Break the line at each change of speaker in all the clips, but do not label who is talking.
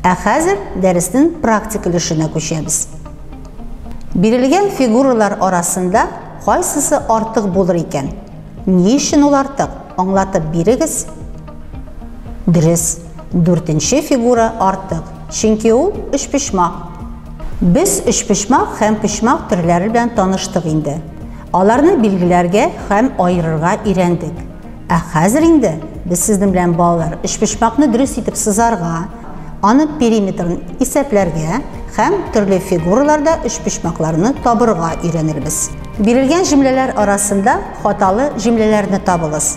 Ә хәзер дәресенең практик өлешенә күчәбез. Бирелгән фигуралар арасында кайсысы артык булыр икән? Ни өчен ул артык? Аңлатып бирегез. Дөрес, дүртенче фигура артык, чөнки ул өчпочмак. Без өчпочмак һәм почмак төрләре белән таныштык инде. Аларны билгеләргә һәм аерырга өйрәндек. Ә хәзер инде без сезнең белән, балалар, өчпочмакны дөрес итеп сызарга, Аның периметрын исәпләргә һәм төрле фигураларда өчпочмакларны табырга өйрәнербез. Бирелгән җөмләләр арасында хаталы җөмләләрне табыгыз.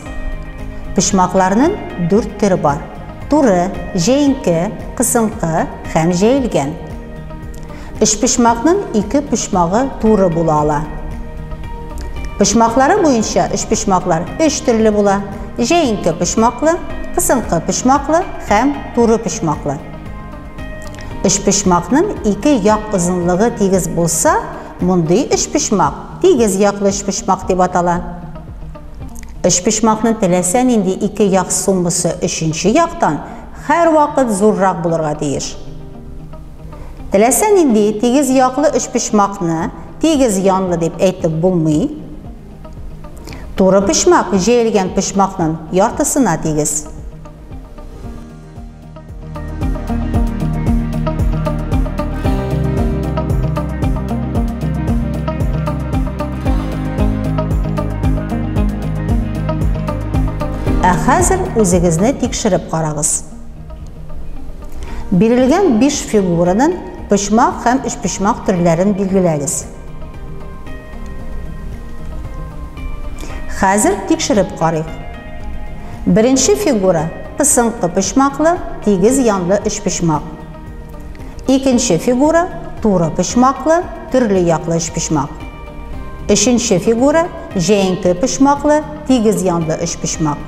Почмакларның дүрт төре бар, туры, җәенке, кысынкы һәм җәелгән. Өчпочмакның ике почмагы туры була ала. Почмаклары буенча өчпочмаклар өч төрле була, җәенке почмаклы, кысынкы почмаклы һәм туры почмаклы. Өчпочмакның ике як озынлыгы тигез булса, мондый өчпочмак тигез яклы өчпочмак дип атала. Өчпочмакның теләсә нинди ике як суммасы өченче яктан һәрвакыт зуррак булырга тиеш. Теләсә нинди тигез яклы өчпочмакны тигез янлы дип әйтеп булмый. Туры почмак җәелгән почмакның яртысына тигез. Ә хәзер үзегезне тикшереп карагыз. Бирелгән биш фигурадан почмак һәм өчпочмак төрләрен билгеләгез. Хәзер тикшереп карыйк. Беренче фигура пысынкы почмаклы, тигез янлы өчпочмак. Икенче фигура туры почмаклы, төрле яклы өчпочмак. Өченче фигура, җәенке почмаклы, тигез янлы өчпочмак.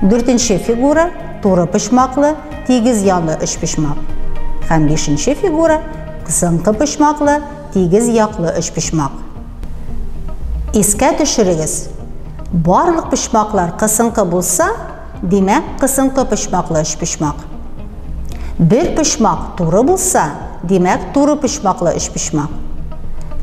Дүртенче фигура, туры почмаклы, тигез янлы өчпочмак. Һәм бишенче фигура, кысынкы почмаклы, тигез яклы өчпочмак. Искә төшерегез, барлык почмаклар кысынкы булса, Димәк, кысынкы почмаклы өчпочмак. Бер почмак туры булса, димәк, туры почмаклы өчпочмак.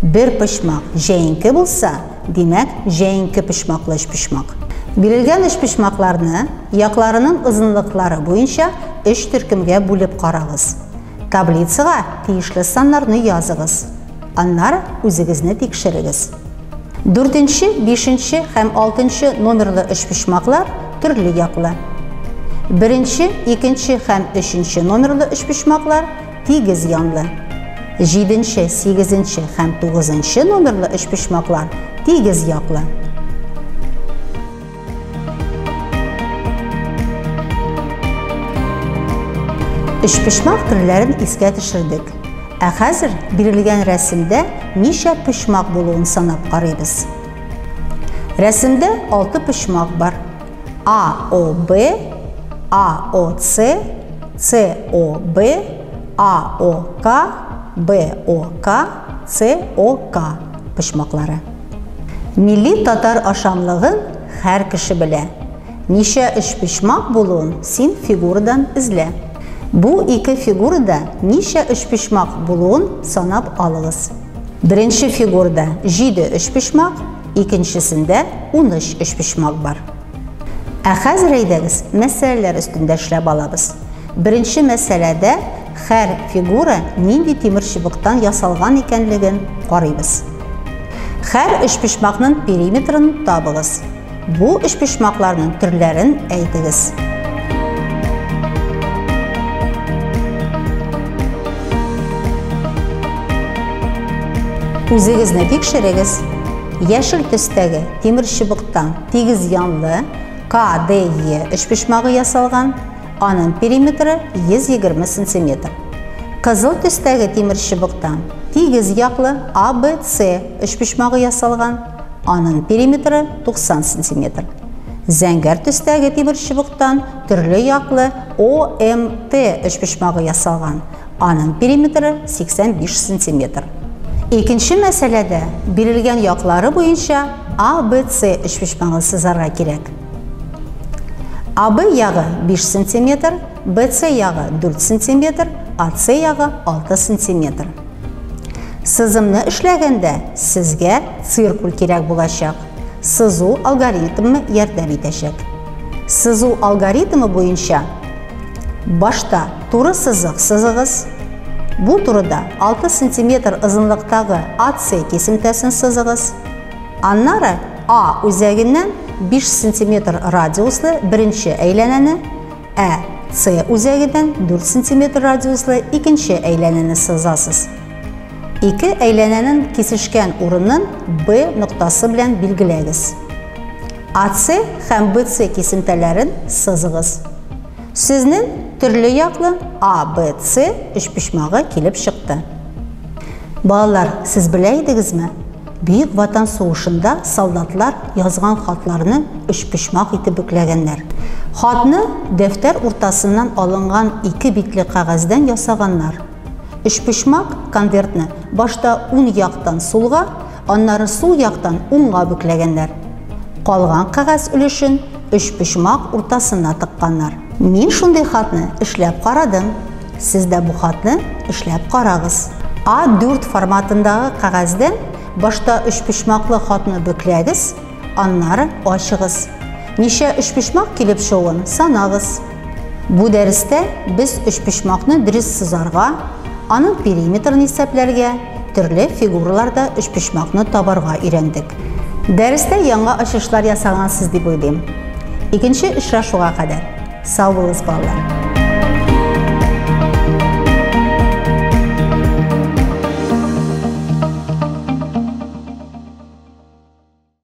Бер почмак җәенке булса, димәк, җәенке почмаклы өчпочмак. Бирелгән өчпочмакларны якларының озынлыклары буенча өч төркемгә бүлеп карагыз. Таблицага тиешле саннарны языгыз. Аннары үзегезне тикшерегез. Дүртенче, бишенче һәм алтынчы номерлы өчпочмаклар төрле яклы. Беренче, икенче һәм өченче номерлы өчпочмаклар тигез янлы. Җиденче, сигезенче һәм тугызынчы номерлы өчпочмаклар тигез яклы. Өчпочмак төрләрен искә төшердек. Ә хәзер бирелгән рәсемдә ничә почмак булуын санап карыйбыз. Рәсемдә алты почмак бар. А, О, Б, А, О, С, С, О, Б, А, О, К, Б, О, К, С, О, К почмаклары. Милли татар ашамлыгын хәр кеше белә. Ничә өчпочмак булуын син фигурадан эзлә. Бу ике фигурада ничә өчпочмак булуын санап алыгыз. Беренче фигурада җиде өчпочмак, икенчесендә уныч өчпочмак бар. Ә хәзер әйдәгез, мәсьәләләр өстендә эшләп алабыз. Беренче мәсьәләдә хәр фигура нинди тимер чыбыктан ясалган икәнлеген карыйбыз. Хәр өчпочмакның периметрын табыгыз. Бу өчпочмакларның төрләрен әйтегез. Үзегезне тикшерегез. Яшел төстәге тимер чыбыктан Тигез янлы КДЕ өчпочмагы ясалган, аның периметры 120 сантиметр. Кызыл төстәге тимер чыбыктан тигез яклы АБЦ өчпочмагы ясалган, аның периметры 90 сантиметр. Зәңгәр төстәге тимер чыбыктан төрле яклы ОМТ өчпочмагы ясалган, Аның периметры 85 сантиметр. Икенче мәсьәләдә бирелгән яклары буенча ABC өчпочмагын сызарга кирәк. AB ягы 5 сантиметр, BC ягы 4 сантиметр, AC ягы 6 сантиметр. Сызымны эшләгәндә сезгә циркуль кирәк булачак. Сызу алгоритмы ярдәм итәчәк. Сызу алгоритмы буенча башта Туры сызык сызыгыз. Бу турыда 6 сантиметр озынлыктагы AC кисемтәсен сызыгыз. Аннары A үзәгеннән 5 сантиметр радиуслы беренче әйләнәне, ә C үзәгеннән 4 сантиметр радиуслы икенче әйләнәне сызасыз. Ике әйләнәнең кисешкән урынын B ноктасы белән билгеләгез. AC һәм BC кисемтәләрен сызыгыз. Сезнең төрле яклы А, Б, С өчпочмагы килеп чыкты. Балалар, сез белә идегезме? Бөек Ватан сугышында солдатлар язган хатларны өчпочмак итеп бөкләгәннәр. Хатны дәфтәр уртасыннан алынган ике битле кәгазьдән ясаганнар. Өчпочмак конвертны башта ун яктан сулга, Аннары сул яктан уңга бөкләгәннәр. Калган кәгазь өлешен өчпочмак уртасына тыкканнар. Мин шундый хатны эшләп карадым. Сез дә бу хатны эшләп карагыз. А4 форматындагы кәгазьдән башта өчпочмаклы хатны бөкләгез, аннары ачыгыз. Ничә өчпочмак килеп чыгуын санагыз. Бу дәрестә без өчпочмакны дөрес сызарга, аның периметрын исәпләргә, төрле фигураларда өчпочмакны табарга өйрәндек. Дәрестә яңа ачышлар ясагансыз дип уйлыйм. Икенче очрашуга кадәр. Сау булыгыз, балалар!